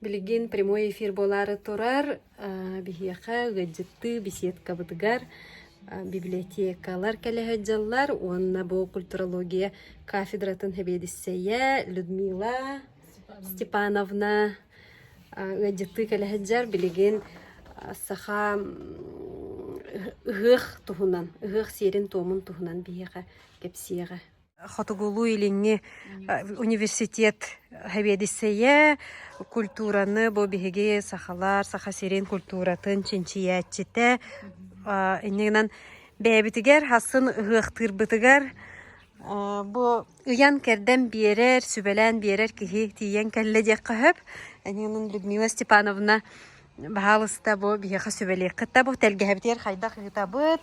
Билигин прямой эфир буолаары турар. Биһиэхэ ыалдьыттыы беседкабытыгар библиотекалар кэлэһит дьаллар уонна бу культурология кафедратын сэбиэдиссэйэ Людмила Степановна ыалдьыттыы кэлэһит дьар билигин саха ыһыах туһунан, ыһыах сиэрин-туомун туһунан биһиэхэ кэпсиэҕэ. хотугулуу-илиҥҥи университет сэбиэдиссэйэ культураны бу биһиги сахалар саха сирин культуратын чинчийээччитэ иннигинэн бэйэбитигэр хасын ыһыахтыырбытыгар бу ыйан-кэрдэн биэрэр сүбэлээн биэрэр киһи тиийэн кэллэ диэххэ сөп иннигинэн Людмила Степановна баһаалыста бу биһиэхэ сүбэлиэх кытта бу тэлгэһэбитигэр хайдах ыытабыт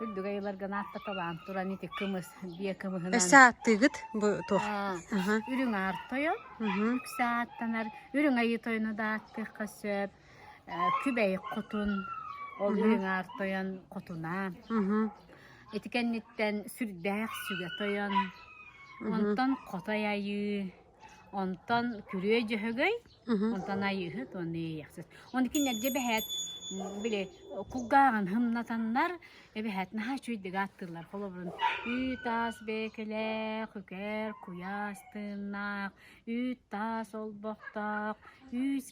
Үрдүгэй ыларга наатта талаан туран ити кымыс, биэ кымыһынан... Өссө ааттыыгыт бу туох? Үрүҥ аар тойон, үксэ ааттанар. Үрүҥ айыы тойону да ааттыахха сөп. Күбэй хотун, ол үрүҥ аар тойон хотунаан. Ити кэнниттэн сүрдээх сүгэ тойон. Онтон хотой айыы. Онтон күрүө дьөһөгөй, онтон айыыһыт уонна иэйэхсит. Ону кинилэргэ бэһээт били кулгааҕын хымнатаннар эбэһээт наһаа үчүгэйдик ааттыыллар. Холобурун үүт таас бэйэкэлээх, үкэр куйаас тыыннаах, үүт таас олбохтоох, үүс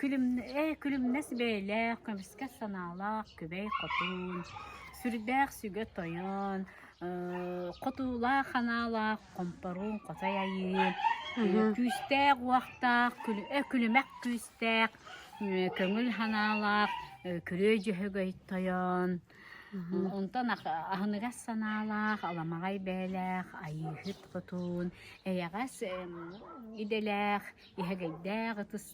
Күлүмнэс бэйэлээх, көмүскэс санаалаах күбэй хотун, сүрдээх сүгэ тойон, хотуулаах-ханаалаах хомпоруун хотой айыы, күүстээх-уохтаах, күлүмэх күүстээх, көҥүл санаалаах күрүө-дьөһөгөй тойон, онтон аһыныгас санаалаах, аламаҕай бэйэлээх Айыыһыт хотун, эйэҕэс идэлээх, иһэгэйдээх ытыс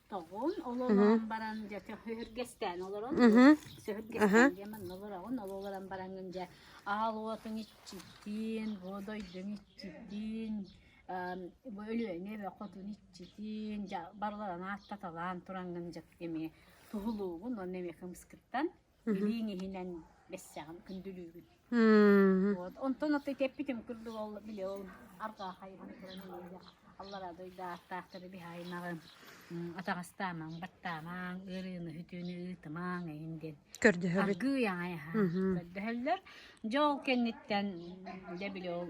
тоҕун ололорон баран дьэ сөһүргэстээн олорон сөһүргэстээн диэн манна олороҕун ол олорон бараҥҥын дьэ аал уотуҥ иччитиин буодойдуҥ иччитиин бу Өлүөнэ эбэ хотун иччитиин дьэ барларын ааттаталаан тураҥҥын дьэ эмиэ туһулуугун уонна эмиэ кымыскыттан Бүлүүн иһинэн бэссэҕин күндүлүүбүн. Вот. Онтон эппитим курдук ол били ол арҕаа хайыһан туран иһиигэ аллара дойду ааттаахтары биһаайнаҕын, атаҕастаамаҥ, баттаамаҥ, ыарыыны хүтүүнү ыытымаҥ эйин диэн Көрдөһөбүт. аргыый аайаһаан көрдөһөллөр. Дьэ ол кэнниттэн дьэ били ол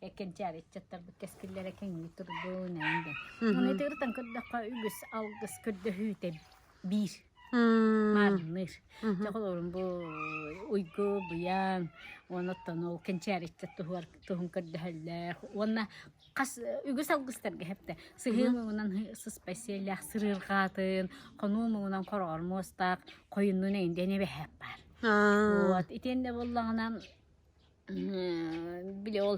кэнчээри ыччаттарбыт кэскиллэрэ кэҥии турдун эйин дэн. Оны итигиртен көрдөххө үгүс алгыс көрдөһүүтэ биир маарынныыр. Чоҕолорун бу уйгу, буян, оноттон ол кэнчээри ыччат туһуар туһун көрдөһөллөөх. Уонна хас үгүс алгыстарга хепте. Сыһыым угунан сыспай сиэллээх сырыырҕаатын, хонуум угунан короор муостаах, қойыннун эйин дені бэхеп бар. Вот, итенде боллағынан Били ол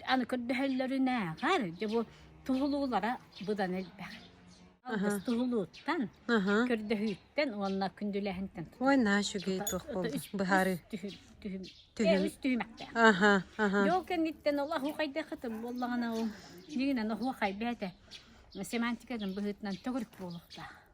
аны көрдөһөллөрүнээҕэр дьэ бу туһулуулара быдан элбэх. Аһа. Алгыс туһулууттан, Аһа. көрдөһүүттэн уонна күндүлээһинтэн Ой, наачу гей туох буолла? Быһаарыы. түһүм түһүм Түһүм. тиэрис түһүмэхтээх. Аһа, аһа. Дьол кэнниттэн ол аһуохайдах ытым буоллаҕына ол дьиҥинэн аһуохай бээтэ семантикатын быһыытынан төгүрүк буолуохтаах.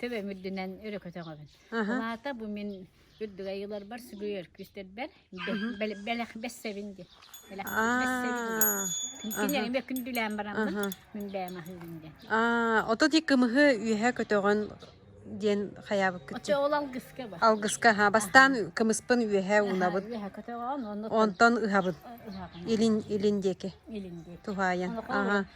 Төбөм үрдүнэн өрө көтөҕөбүн. Аһа. Аата бу мин үрдүгэй ыйыларбар сүгүй өркүстэрбэр бэлэх бэссэбин диэн. Бэлэх бэссэбин диэн. Кинилэргэ күндүлээн бараммын мин бэйэм аһыыбын диэн. Аа, ото ти кымыһы үөһэ көтөҕөн диэн хаябыккыт. Оче ол алгыска бар. Алгыска ха бастаан кымыспын үөһэ унабыт. Үөһэ көтөҕөн оннуттан онтон ыһабын. Илин илин диэки. Илин диэки. Туһаайан. Аха.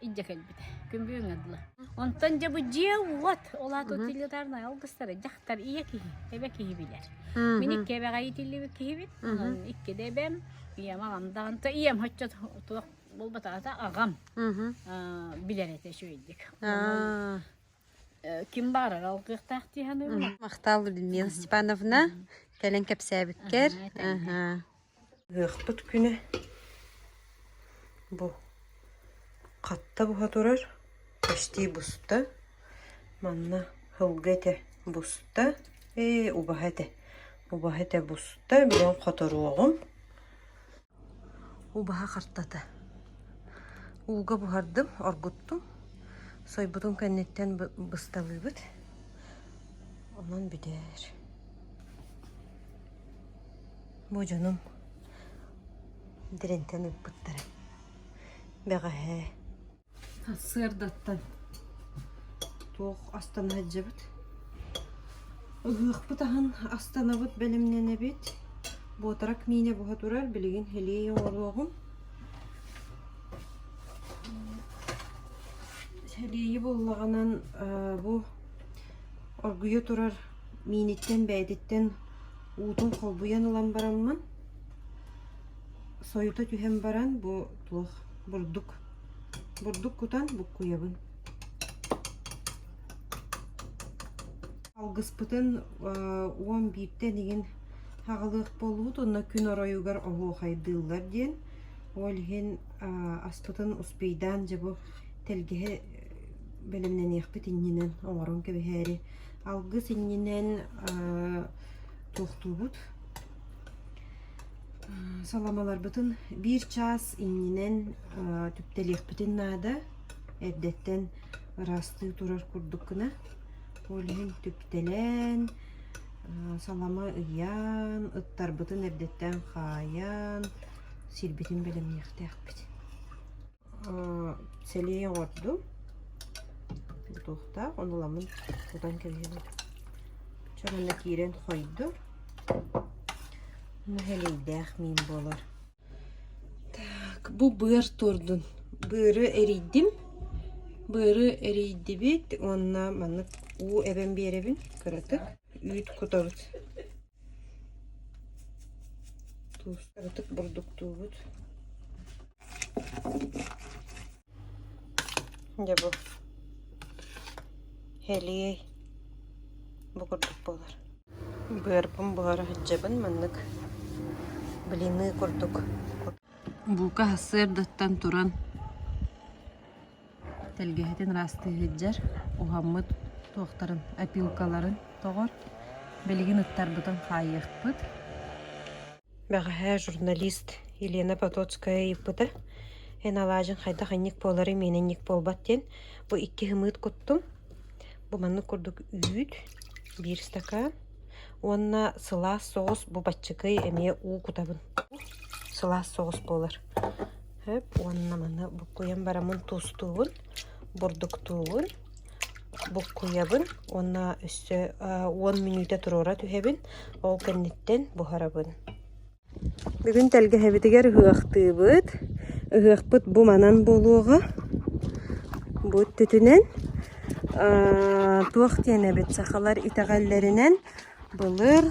Иддьэ кэлбитэ. Күмбү ыҥырдылар. Онтон дьэ бу дьиэ уот, ол аата утилитарнай алгыстара дьахтар ийэ киһи, эбэ киһи билэр. Мин икки эбэҕэ иитиллибит киһибин. Онон икки да эбэм, ийэм аҕам да онто ийэм хоччо туох буолбатаҕата аҕам аа, билэр этэ үчүгэйдик. Онон э, ким баарыгар алгыахтаах дии саныыбын. Махтал Людмила Степановна. Кэлэн кэпсээбиккэр. Аха, тэҥэ. Ыһыахпыт күнэ бу хатта буһа турар, почти буста. Манна сылгы этэ буста, ээ убаһа этэ, убаһа этэ буста, билигин хоторуоҕум. Убаһа хартата. Ууга буһардым, оргуттум. Сойбутун кэнниттэн бысталыыбыт. Онон бүтэр. Бу дьонум дириҥтэн ыппыттара. Бэҕэһээ сыардаттан туох астана сылдьабыт? Ыһыахпыт аһын астанабыт бэлэмнэнэбит. Буотарак миинэ буһа турар, билигин илии оҥоруоҕум. Илиэйи буллаҕынан бу оргуйа турар Мииниттэн бэйэтиттэн уутун холбуйан ылан бараммын, сойута түһэн баран бу туох бурдук бурдук кутан буккуйабын. Алгыспытын уон бииртэ инигин аҕалыах буоллубут уонна күн оройугар оһуохайдыыллар диэн. Ол иһин аспытын успейдаан дьэ бу тэлгэһэ бэлэмнэниэхпит иннинэн оҥорон кэбиһээри Алгыс иннинэн туохтуубут саламаларбытын биир чаас иннинэн түптэлиэхпитин наада эрдэттэн ыраастыы турар курдук гына ол иһин түптэлэн салама ыйаан ыттарбытын эрдэттэн хаайан сирбитин бэлэмниэхтээхпит сэлии оҥордум бутуохтаах ону ламын кутан кэбиһэн чон онно киирэн хойдум ону сэлэйдээх миин буолар так бу быар туордун быары эрийдим быары эрийдибит уонна маннык уу эбэн биэрэбин кыратык үүт кутабыт Туустарытык бурдуктуубут. Дьэ бу хэлиэй бу курдук буолар. Быарбын буһара сылдьабын маннык блины курдук. Бука сарсыардаттан туран тэлгэһэтин ыраастыы сылдьар, уһаммыт туохтарын, опилкаларын тоҕор, билигин ыттарбытын хаайыахпыт. Бэҕэһээ журналист Елена Потоцкая ыйыппыта, эн алаадьыҥ хайдах инник буолары миэнэ инник буолбат диэн, бу икки һымыыт куттум. Бу маннык курдук үүт, биир стакан уонна сылаас соҕус бу баччыкый эмиэ уу кутабын. Сылаас соҕус буолар. Өп уонна маны буккуйан бараммын туустуубун, бурдуктуубун, буккуйабын уонна өссө уон мүнүүтэ туруора түһэбин, ол кэнниттэн буһарабын. Бүгүн тэлгэһэбитигэр ыһыахтыыбыт. Ыһыахпыт бу манан буолуоҕа. Бу өттүтүнэн туох диэн эбит сахалар итэҕэллэринэн былыр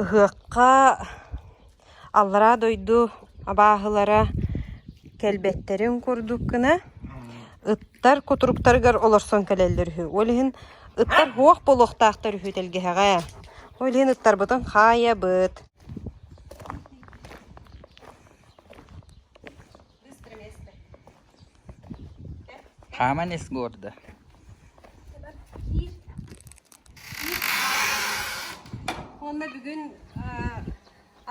Ыһыахха аллараа дойду абааһылара кэлбэттэрин курдук гына, ыттар кутуруктарыгар олорсон кэлэллэр үһү. Ол иһин ыттар һуох буолуохтаахтар үһү тэлгэһэҕэ. Ол иһин ыттарбытын хаайабыт. хааман ис буорда уонна бүгүн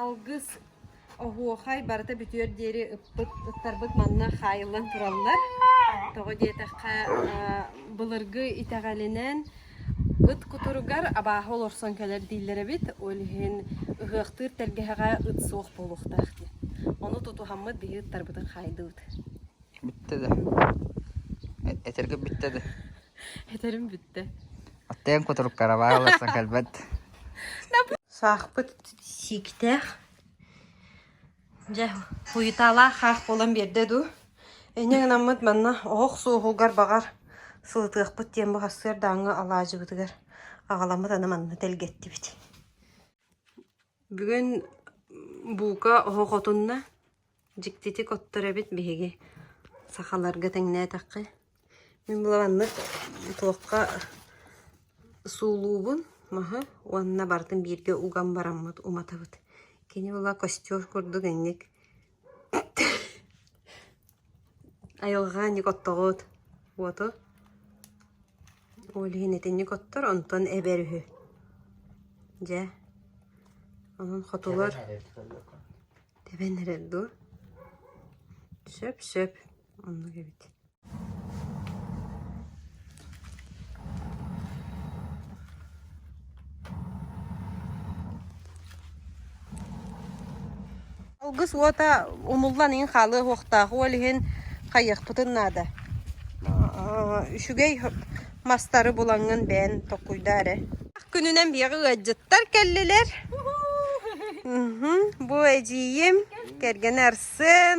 алгыс оһуохай барыта бүтүөр диэри ыппыт ыттарбыт манна хаайыллан тураллар тоҕо диэтэххэ былыргы итэҕэлинэн ыт кутуругар абааһы олорсон кэлэр дииллэр эбит ол иһин ыһыахтыыр тэлгэһэҕэ ыт суох буолуохтаах диэн ону тутуһаммыт биһи ыттарбытын хаайдыбыт Бүттэ да. Этэргим бүттэ да. Этэрим бүттэ. Оттон кутуруккараба ыларсан кэлбэт. Саахпыт сиктээх. Дьэ, хуйутаалаах хаах буолан биэрдэ дуу. Эниэҥ наммыт манна оһох суоһугар баҕар сылытыахпыт диэн бахастыар дааҥҥа алаадьыбытыгар аҕаламмыт аны манна тэлгэттибит. Бүгүн бука оһох отунна, дьиктитик оттор эбит биһиги сахаларга тэҥнээтэххэ. Мин былааннык туохха суулуубун маһы уонна барытын бииргэ уган бараммыт уматабыт. Кини була костёр курдук инник Айылҕа ник оттоҕут? Уоту? Ол иһин итинник оттор, онтон эбэр үһү. Дьэ, онон хотугар тэбэн эрэр дуу? Сөп-сөп, оннук эбит Алгыс уота умуллан иһин хаалыах ол иһин хайыахпытын наада. Үчүгэй мастары булаҥҥын бээн токкуйда эрэ. Күнүнэн биэҕи ыадьыттар кэллилэр. Бу эдьиийим кэргэнэ арсын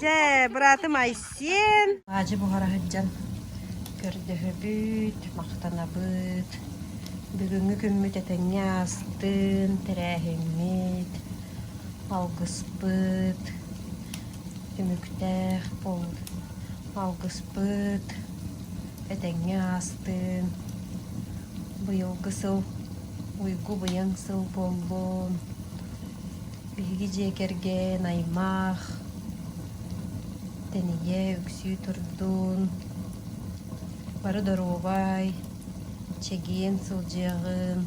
Дьэ, быраатым Айсен. Аадьы буһара сылдьан көрдөһөбүт, махтанабыт. Бүгүҥҥү күммүт этэҥҥэ аастын, тэрээһиммит, алгыспыт, түмүктээх бол алгыспыт этэҥҥэ аастын. Быйылгы сыл уйгу быйаҥ сыл буоллун. Биһиги дьиэ кэргэн аймах, тэнийэ үксүү турдун, бары доруобай, чэгиэн сылдьыаҕын,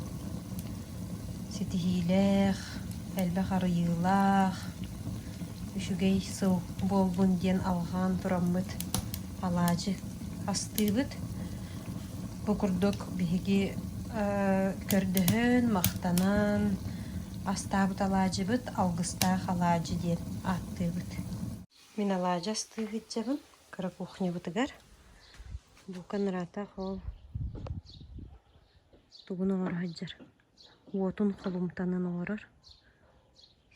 ситиһиилээх, элбэх арыйыылаах, үчүгэй сыл буоллун диэн алҕаан тураммыт алаадьы астыыбыт. Бу курдук биһиги көрдөһөн, махтанан, Астаабыт алаадьыбыт Алгыстаах алаадьы диэн ааттыыбыт. Мин алаадьы астыы сылдьабын кыра кухнябытыгар. Бука нараатах ол тугун оҥоро сылдьар. Уотун холумтанан олорор.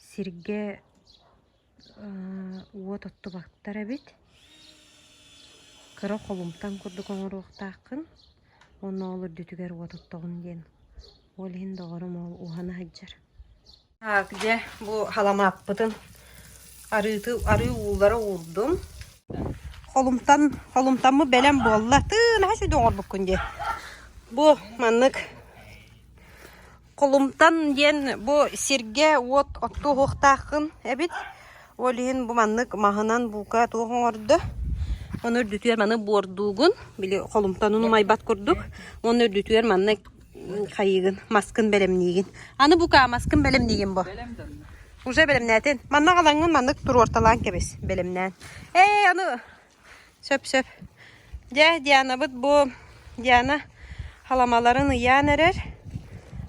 Сиргэ уот оттубаттар эбит. Кыра холумтан курдук оҥоруохтааххын. Уонна ол үрдүтүгэр уот оттоҕун диэн. Ол иһин доҕорум ол уһана сылдьар. Так, дьэ, бу халамааппытын арыыты, арыы ууллара уурдум. Холумтан, холумтаммы бэлэм буолла. Тыын, хаси доҕорбуккун дии. Бу маннык Холумтан диэн бу сиргэ-уот оттуоһуохтааххын эбит. Ол иһин бу маннык маһынан буука туох оҥордо? Ону үрдүтүгэр маны буордуугун, били холумтанын умайбат курдук. Уонна үрдүтүгэр манна хайыыгын, маскын бэлэмниигин. Аны бука маскын бэлэмниигин бу. Уже бэлэмнээтин. Манна халаҥҥын маннык туруорталаан кэбис, бэлэмнээн. Ээ, аны Сөп-сөп. Дьэ, Дианабыт бу Диана халамаларын ыйаан эрэр.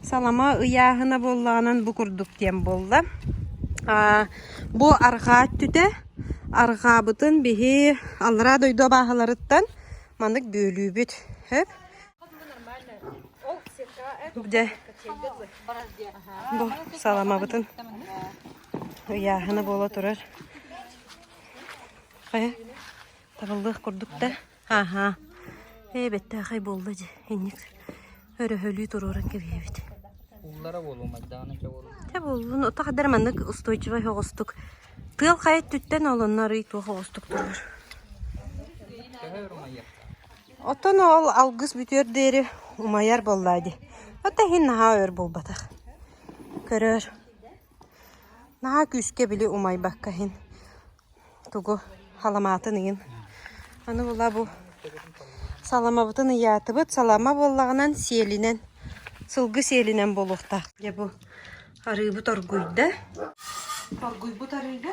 Салама ыйааһына буоллаҕынан бу курдук диэн буолла. Бу арҕаа өттүтэ. Арҕаабытын биһи аллараа дойду абааһыларыттан маннык бүөлүүбүт. Өп. Дьэ, бу саламабытын ыйааһына буола турар. Хайа, табыллыах курдук да. Аһаа, ээ бэттээхэй буолла дьэ, инник өрөһөлүү туруоран кэбиһэбит. Ууллара буолуо, майдаана чэ буолуо. Тэ буоллун, отах эдэр маннык устойчивай оҕустук. Тыал хай өттүттэн олоннор ый туох оҕустук турбур. Төһө өр умайар? Оттон ол алгыс бүтүөр диэри умайар боллаа ди. Отта һин наһаа өр болбатах. Көрөр. Наһаа күүскэ били умайбакка иһин тугу саламаатын ыйын. Аны була бу саламабытын ыйаатыбыт. Салама буоллаҕынан сиэлинэн, сылгы сиэлинэн буолуохтаах. Дьэ бу арыыбыт оргуйда. Оргуйбут арыыга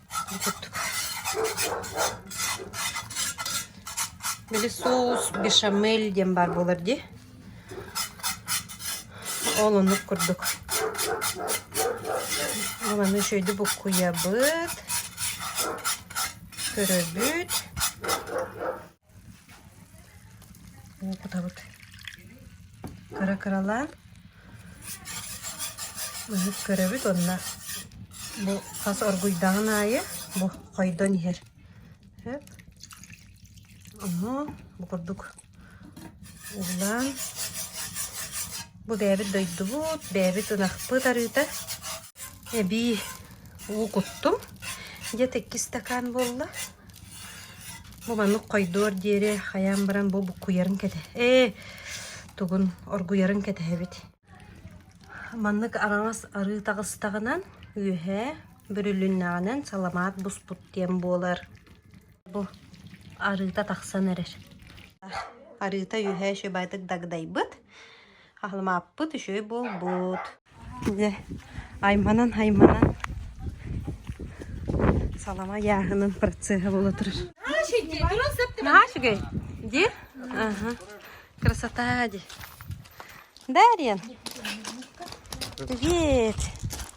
били соус бешамель диэн баар буолар дии ол оннук курдук ол аны үчүгэйдик буккуйабыт көрөбүт уопутабыт кыра-кыралаан быһык көрөбүт уонна бу хас оргуйдаҕын аайы бу хойдон иһэр ону бу курдук уулаан бу бэйэбит дойдубут бэйэбит ынахпыт арыыта Эбии уу куттум. Дьэ, иккис стакаан буолла. Бу маннык хойдуор диэри хайаан баран бу буккуйарын кэтэһ ээ тугун оргуйарын кэтэһэбит. Маннык араҥас арыы таҕыстаҕынан үөһэ бүрүлүннэҕинэн саламаат буспут диэн буолар. Бу арыыта тахсан эрэр. Арыыта үөһэ үчүгэйдик дагдайбыт. Аһылымааппыт үчүгэй буолбут. Дьэ, айманан-айманан салама ыйааһынын процеһа буола турар. Наһаа үчүгэй. Ди? Аха. Красота ди. Дарьян. Привет.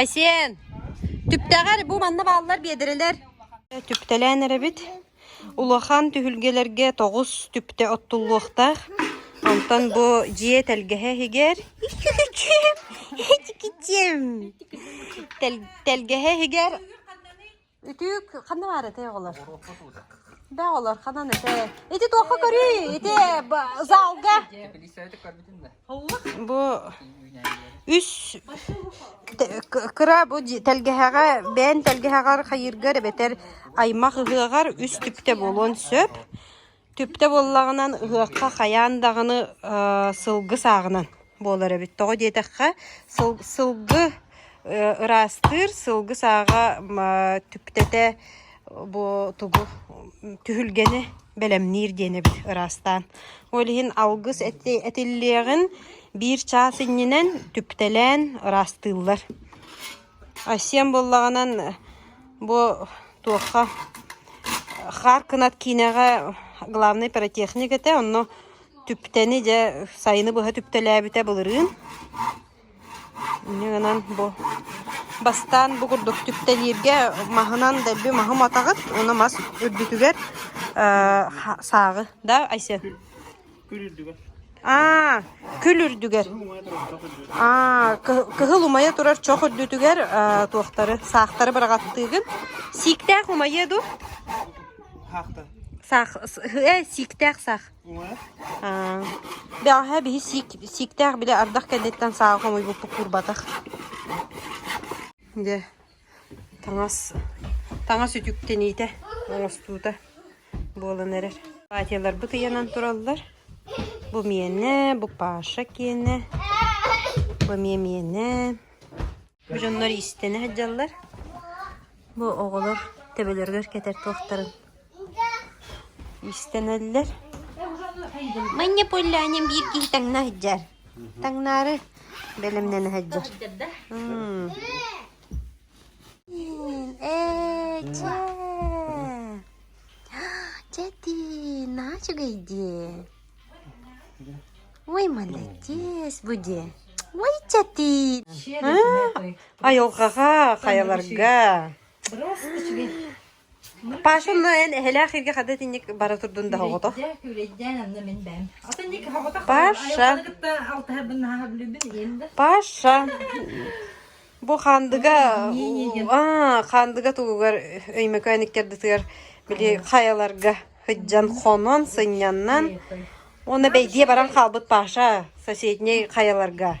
Айсиэн, түптэҕэр бу манна бааллар биэдэрэлэр түптэлээн эрэбит. Улахан түһүлгэлэргэ тоҕус түптэ оттуллуохтаах. Онтон бу дьиэ тэлгэһэ иһигэр тэлгэһэ иһигэр Үтүк ханна баар этэй оҕолор? Оҕуруокка туута. Да оҕолор ханан этэй? Ити туохха көрүй? Ити залга. Бу үс кыра бу тэлгэһэҕэ бээн тэлгэһэҕэр хайыыргар эбэтэр аймах ыһыаҕар үс түптэ буолуон сөп. Түптэ буоллаҕынан ыһыахха хайаан даҕаны сылгы сааҕынан буолар эбит. Тоҕо диэтэххэ, сылгы ыраастыыр, сылгы сааҕа түптэтэ бу тугу түһүлгэни бэлэмниир диэнэбит ыраастаан. Ол иһин алгыс этиллиэҕин биир чаас иннинэн түптэлээн ыраастыыллар. Айсиэн буоллаҕынан бу туохха хаар кынат киинэҕэ главнай пиротехник этэ, онно түптэни дьэ сайыны быһа түптэлээбитэ былырыын. Ини гынан бу бастаан бу курдук түптэлииргэ маһынан дэлби маһым атаҕыт уонна мас үрдүтүгэр сааҕы да Айсиэн Аа, күл үрдүгэр. Аа, кыһыл умайа турар чох үрдүтүгэр э, туохтары, саахтары быраҕаттыыгын. Сииктээх умайыа ду? Саахта. Саах, э, сииктээх саах. Аа. Бэҕэһээ биһи сиик, сииктээх били ардах кэнниттэн саах умуйбуппут курбатах. Дьэ. Таҥас таҥас үтүктэниитэ, оҥостуута буолан эрэр. Платьяларбыт ыйанан тураллар. Бу миэнэ, бу Паша киэнэ, бу эмиэ миэнэ. Бу дьоннор иистэнэ сылдьаллар. Бу оҕолор төбөлөрүгэр кэтэр туохтарын Иистэнэллэр Манна поллянем биир киһи таҥна сылдьар. Таҥнаары бэлэмнэнэ сылдьар. М. Ээ, дьэ. Дьэ ты, нач гайди. Ой, молодец, буди. Ой, дьэ ты. А, Айылҕаҕа, хайаларга. Паша онно эн эһэлээх эһиги хата итинник бара турдун да соҕото. Паша. Паша. Бу Хандыга аа Хандыга тугугар Өймөкөөн иккэрдитигэр били хайаларга сыдьан хонон сынньаннан уонна бэйдиэ баран хаалбыт Паша соседней хайаларга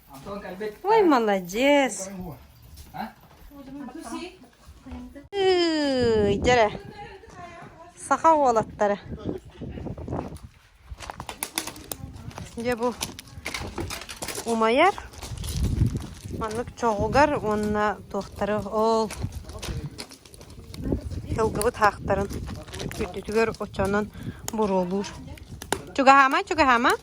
Ой, молодец! Дьэрэ, саха уолаттара. Дьэ бу умайар маннык чоҕугар уонна туохтары ол сылгыбыт хаахтарын үрдүтүгэр очонон буруолуур. Чугаһаама, чугаһаама.